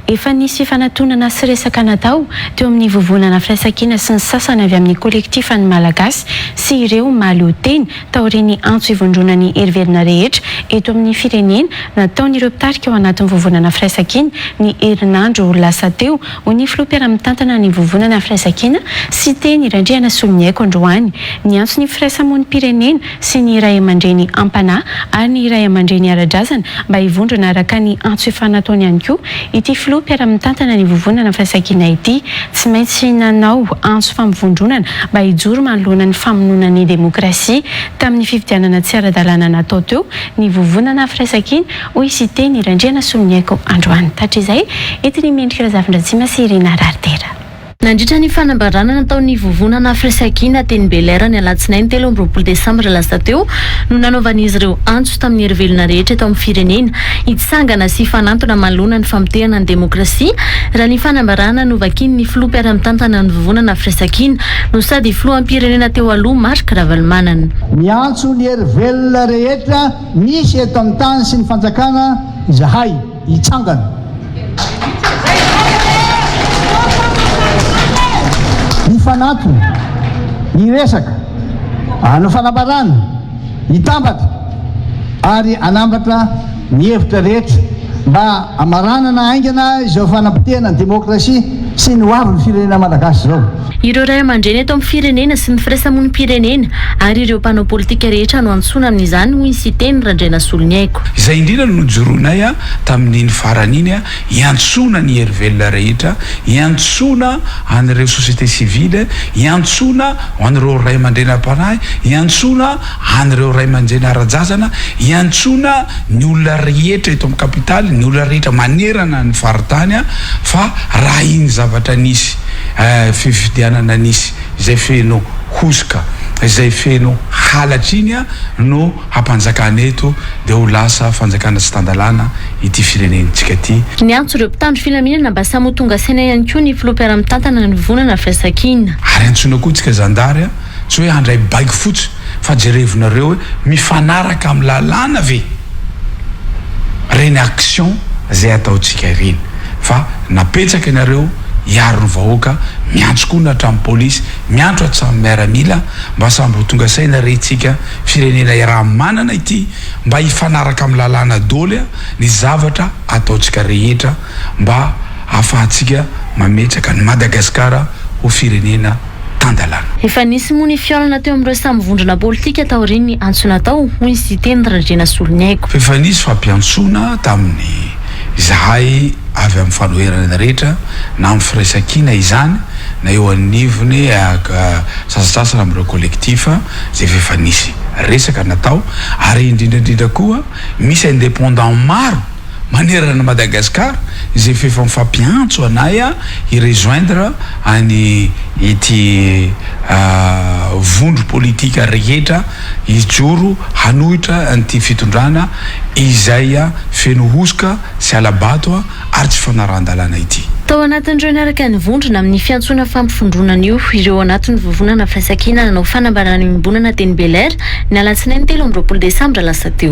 Efa nisy fanatonana sy resaka natao teo amin'ny Vovonana Firaisankina sy ny sasany avy amin'ny Kolektifa Ny Malagasy sy ireo mahaleo tena taorian'ny antso hivondrona ny herivelona rehetra eto amin'ny firenena nataon'ireo mpitarika ao anatin'ny Vovonana Firaisankina ny herinandro lasa teo, hoy ny Filoha mpiara-mitantana ny Vovonana Firaisankina, Siteny Randrianasoloniaiko androany. Niantso ny firaisamonim-pirenena sy ny ray aman-dreny am-panahy ary ny ray aman-dreny ara-drazana mba hivondrona araka ny antso efa nataony ihany koa ity filoha mpiara-mitantana ny Vovonana Firaisankina ity. Tsy maintsy nanao antso fampivondronana mba hijoro manoloana ny famonoana ny demokrasia tamin'ny fifidianana tsy ara-dalàna natao teo ny Vovonana Firaisankina, hoy Siteny Randrianasoloniaiko androany. Hatrizay, entin'i Mendrika Razafindratsima sy Irina Raritera. Nandritra ny fanambarana nataon'ny Vovonana Afresakhina teny Belair ny alatsinainy telo amby roapolo desambra lasa teo no nanaovan'izy ireo antso tamin'ny hery velona rehetra eto amin'ny firenena hitsangana sy hifanantona manoloana ny famotehana ny demokrasia raha ny fanambarana novakian'ny filoha mpiara-mitantana ny Vovonana Afresakhina no sady filoham-pirenena teo aloha Marc Ravalomanana. Miantso ny hery velona rehetra misy eto amin'ny tany sy ny fanjakana izahay. hitsangana. Hifanantona, hiresaka, hanao fanambarana, hitambatra ary hanambatra ny hevitra rehetra mba hamaranana haingana izao fanapotehana ny demokrasia. Tsy ny ho avy ny firenena malagasy izao. Ireo ray aman-dreny eto amin'ny firenena sy ny firaisamonim-pirenena ary ireo mpanao politika rehetra no antsoina amin'izany, hoy ny Siteny Randrianasoloniaiko. Izay indrindra no nojoroinay tamin'iny farany iny, hiantsoana ny hery velona rehetra, hiantsoana an'ireo société civile, hiantsoana an'ireo ray aman-drenim-panahy, hiantsoana. An'ireo ray aman-dreny ara-jazana, iantsoana ny olona rehetra eto amin'ny kapitaly, ny olona rehetra manerana ny faritany fa raha iny zavatra nisy fifidianana nisy izay feno hosoka, izay feno halatra iny no hampanjakana eto dia ho lasa fanjakana tsy tan-dalàna ity firenentsika ity. Niantso ireo mpitandro filaminana mba samy ho tonga saina ihany koa ny filoha mpiara-mitantana ny vondrona firaisankina. Ary antsoina koa tsika zandary Tsy hoe handray baiko fotsy fa jerevinareo hoe mifanaraka amin'ny lalàna ve ireny actions izay ataontsika ireny fa napetsaka ianareo hiaro ny vahoaka miantso koa ny hatramin'ny polisy miantso hatramin'ny miaramila mba samby ho tonga saina re tsika firenena iaraha manana ity mba hifanaraka amin'ny lalàna doly ny zavatra ataontsika rehetra mba afahantsika mametraka an'i Madagasikara ho firenena tan-dalàna. Efa nisy moa ny fihaonana teo amin'ireo samy vondrona politika taorian'ny antso natao, hoy ny Siteny Randrianasoloniaiko. Fa efa nisy fampiantsoana tamin'ny izahay avy amin'ny fanoherana rehetra na amin'ny firaisankina izany na eo anivon'ny sasantsasany amin'ireo collectif izay fa efa nisy resaka natao ary indrindra indrindra koa misy indépendant maro manerana an'i Madagascar izay f'efa mifampiantso anay hi rejoindre any ity vondro politique rehetra hijoro hanohitra an'ity fitondrana izay feno hosoka sy hala-bato ary tsy fanarahan-dalàna ity. Tao anatin'ireo niaraka nivondrona amin'ny fiantsoana fampivondronana io ireo anatin'ny vovonana firaisankina nanao fanambarana iombonana teny Belair ny alatsinainy telo amby roapolo desambra lasa teo.